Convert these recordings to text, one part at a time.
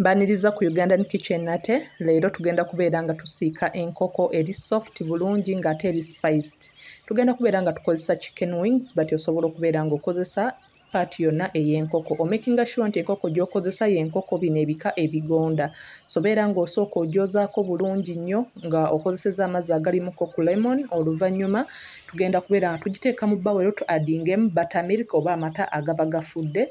Mbaniriza ku Ugandan kitchen nate leero tugenda kubeera nga tusiika enkoko eri soft bulungi nga ate eri spiced. Tugenda kubeera nga tukozesa chicken wings but osobola okubeera nga okozesa part yonna ey'enkoko. Omakinga sure nti enkoko gy'okozesa y'enkoko bino ebika ebigonda. So beera ng'osooka ogyozaako bulungi nnyo nga okozeseza amazzi agalimuko ku lemon oluvannyuma tugenda kubeera nga tugiteeka mu bawero tu adingemu buttermilk oba amata agaba gafudde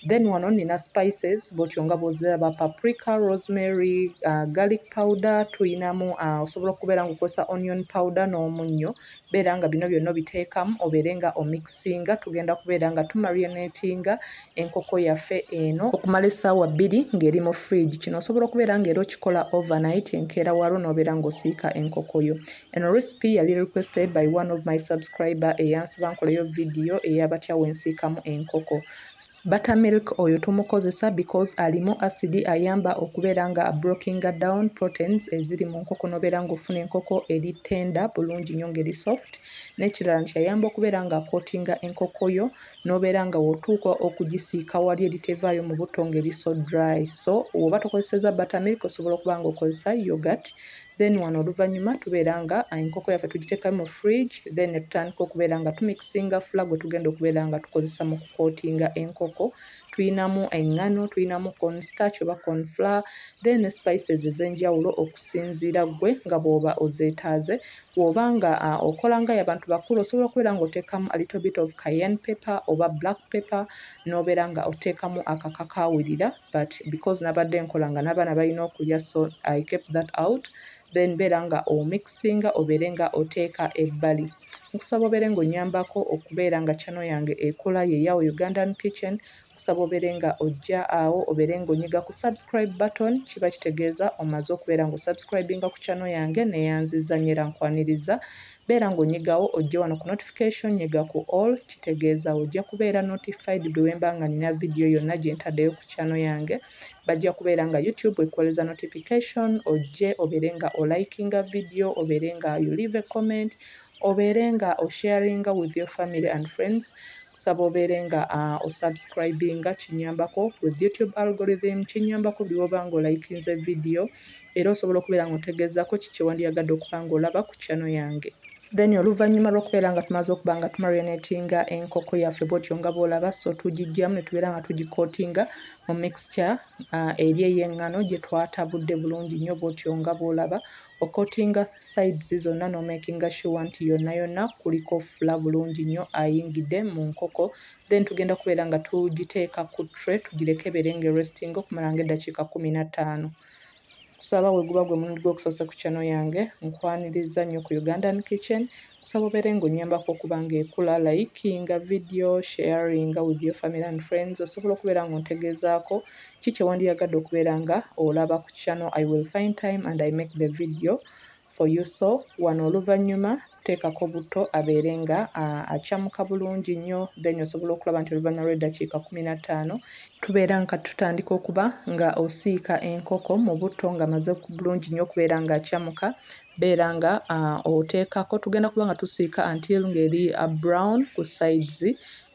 Then wano nina spices bwotyo nga bwoziraba paprika, rosemary, uh, garlic powder tuyinamu uh, osobola okubeera nga okozesa onion powder n'omunnyo beera nga bino byonna obiteekamu obeere nga omixinga tugenda kubeera nga tumarionatinga enkoko yaffe eno okumala essaawa bbiri ng'eri mu fridge kino osobola okubeera nga era okikola overnight enkeera waalwo n'obeera ng'osiika enkoko yo eno recipe yali requested by one of my subscriber eyansiba nkoleyo vidiyo eyabatya wensiikamu enkoko Butter milk oyo tumukozesa because alimu acid ayamba okubeera nga abrokinga down proteins eziri mu nkoko nobeera nga ofuna enkoko eri tender bulungi nyo ngeri soft nekirala nti ayamba okubeera nga akotinga enkoko yo nobeera nga wotuuka okugisiika wali eritevaayo mu butto ngeri so dry so woba tokozeseza butter milk osobola okuba nga okozesa yogurt then wano oluvannyuma tubeera nga enkoko yaffe tugiteeka mu fridge then netutandika okubeera nga tumikisinga fula gwe tugenda okubeera nga tukozesa mu kukootinga enkoko tuyinamu eŋŋano tuyinamu constarch oba confla then ne spices ez'enjawulo okusinziira ggwe nga bw'oba ozeetaaze bw'oba nga uh, okola nga yabantu bakulu osobola okubeera nga oteekamu a little bit of cayenne paper oba black paper n'obeera nga oteekamu akakakawulira but because nabadde nkola nga n'abaana balina okulya so i kept that out then beera nga omixinga obeere nga oteeka ebbali nkusaba obeere nga onyambako okubeera nga chano yange ekola yeyawo ugandan kitchen nkusaba obeere nga ojja awo obeere nga onyiga ku subscribe button kiba kitegeeza omaze okubeera nga osubscribinga ku chano yange neyanziza nyo era nkwaniriza Beera nga onyigawo ojje wano ku notification nyiga ku all kitegeeza ojja kubeera notified buli wemba nga nina video yonna gyentaddeyo ku channel yange bajja kubeera nga youtube ekuwoleza notification ojje obeere nga o likinga video obeere nga you leave a comment obeere nga o sharinga with your family and friends kusaba obeere nga uh, o subscribinga kinyambako with youtube algorithm kinyambako byoba nga olikinze video Era osobola okubeera nga ontegeezako ki kyewandiyagadde okuba nga olaba ku channel yange. Then oluvanyuma lwokubeera nga tumaze okuba nga tu marionatinga enkoko yaffe bwotyo nga bwolaba so tugijjamu netubeera nga tugikotinga mu mixture uh, eri eyengano gyetwatabudde bulungi nnyo bwotyo nga bwolaba okotinga sides zonna nomakinga sure nti yonna yonna kuliko fula bulungi nnyo ayingidde mu nkoko then tugenda kubeera nga tugiteeka ku tray tugireke ebeere nga erestinga okumala nga eddakiika kkumi na ttaano kusaba we guba gwe mulundi gw'okusoose ku channel yange nkwaniriza nnyo ku ugandan kitchen kusaba obeere ng'onnyambako okuba ng'ekula likinga video sharinga with your family and friends osobola okubeera ng'ontegeezaako ki kye wandiyagadde okubeera nga olaba ku channel i will find time and i make the video for you so wano oluvanyuma teekako butto abeere nga acamuka bulungi nnyo then osobola okulaba nti oluvanyuma lw'eddakiika kumi na ttaano tubeera nga tutandika okuba nga osiika enkoko mu butto nga maze bulungi nnyo okubeera nga acamuka beera nga oteekako tugenda kuba nga tusiika until ng'eri brown ku sides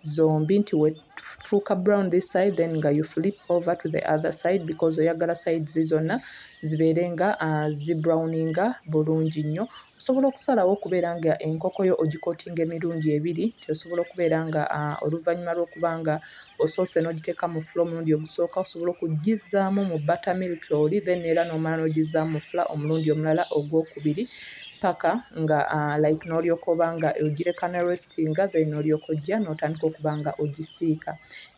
zombi nti wefuuka brown this side then nga you flip over to the other side because oyagala sides zonna zibeere nga uh, zi browninga bulungi nnyo osobola okusalawo okubeera nga enkoko yo ogikotinga emirundi ebiri nti osobola okubeera nga uh, oluvannyuma lw'okuba nga osoose n'ogiteeka mu fula omulundi ogusooka osobola okugizzaamu mu buttermilk oli then era n'omala n'ogizzaamu mu fula omulundi omulala ogwokubiri paka nga uh, like nolyoka oba nga ogireka ne restinga then olyoka ojja notandika okuba nga ogisiika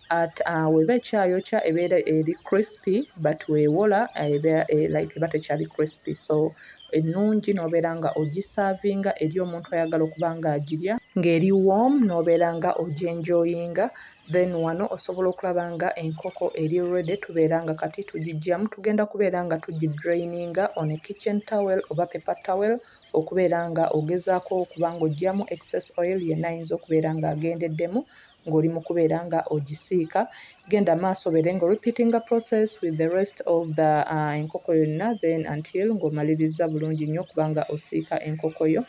at uh, weba ekyayokya ebeera eri crispy but wewola uh, ebeera eh, like eba tekyali crispy so ennungi nobeera nga ogisaavinga eri omuntu ayagala okuba nga agirya ng'eri warm nobeera nga ogyenjoyinga Then wano osobola okulaba nga enkoko eri ready tubeera nga kati tugijjamu. Tugenda kubeera nga tugi draininga on a kitchen towel oba paper towel okubeera nga ogezaako okuba nga ojjamu excess oil yenna ayinza okubeera nga agendeddemu ng'oli mu kubeera nga ogisiika. Genda maaso obeere nga orepeatinga process with the rest of the uh, enkoko yonna then until ng'omalirizza bulungi nnyo okuba nga osiika enkoko yo.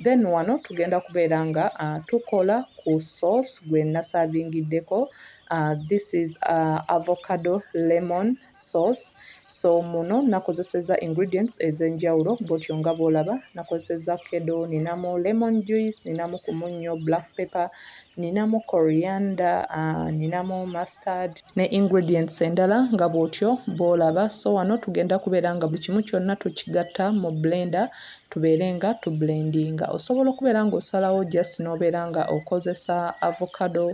Then wano tugenda kubeera nga uh, tukola ku sauce gwe nasavingiddeko uh, this is uh, avocado lemon sauce so muno nakozeseza ingredients ezenjawulo bwotyo nga bwolaba nakozeseza kedo ninamu lemon juice ninamu kumunnyo black pepper ninamu coriander uh, ninamu mustard ne ingredients endala nga bwotyo bwolaba so wano tugenda kubeera nga buli kimu kyonna tukigatta mu blender tubeere nga tu blendinga osobola okubeera nga osalawo just nobeera nga okozesa avocado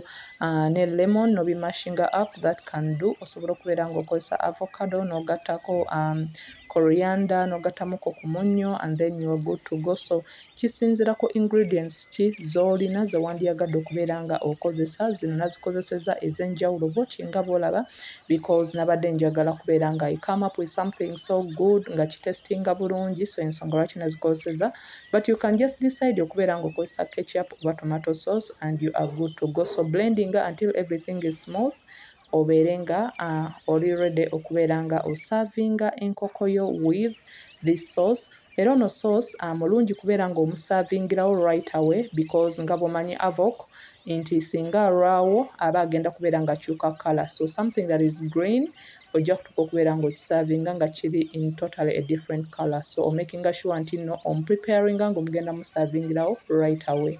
uh, ne lemon nobimashinga up that can do osobola okubeera nga okozesa avocado nogattako um, coriander nogattamuko ku munnyo and then you are good to go so kisinzira ku ingredients ki zolina zewandyagadde okubeera nga okozesa zino nazikozeseza ezenjawulo bwoti nga bwolaba because nabadde njagala kubeera nga i come up with something so good nga kitestinga bulungi so ensonga lwaki nazikozeseza but you can just decide okubeera nga okozesa ketchup oba tomato sauce and you are good to go so blending until everything is smooth obeere nga uh, oli ready okubeera nga osavinga enkokoyo with this sauce Era ono source amulungi kubeera nga omusavingilawo right away because nga bwomanyi Avoc nti singa alwawo aba agenda kubeera nga akyuka colour so something that is green ojja kutuka okubeera nga okisavinga nga kiri in totally a different colour so omakinga sure nti no omupreparinga nga omugenda musavingilawo right away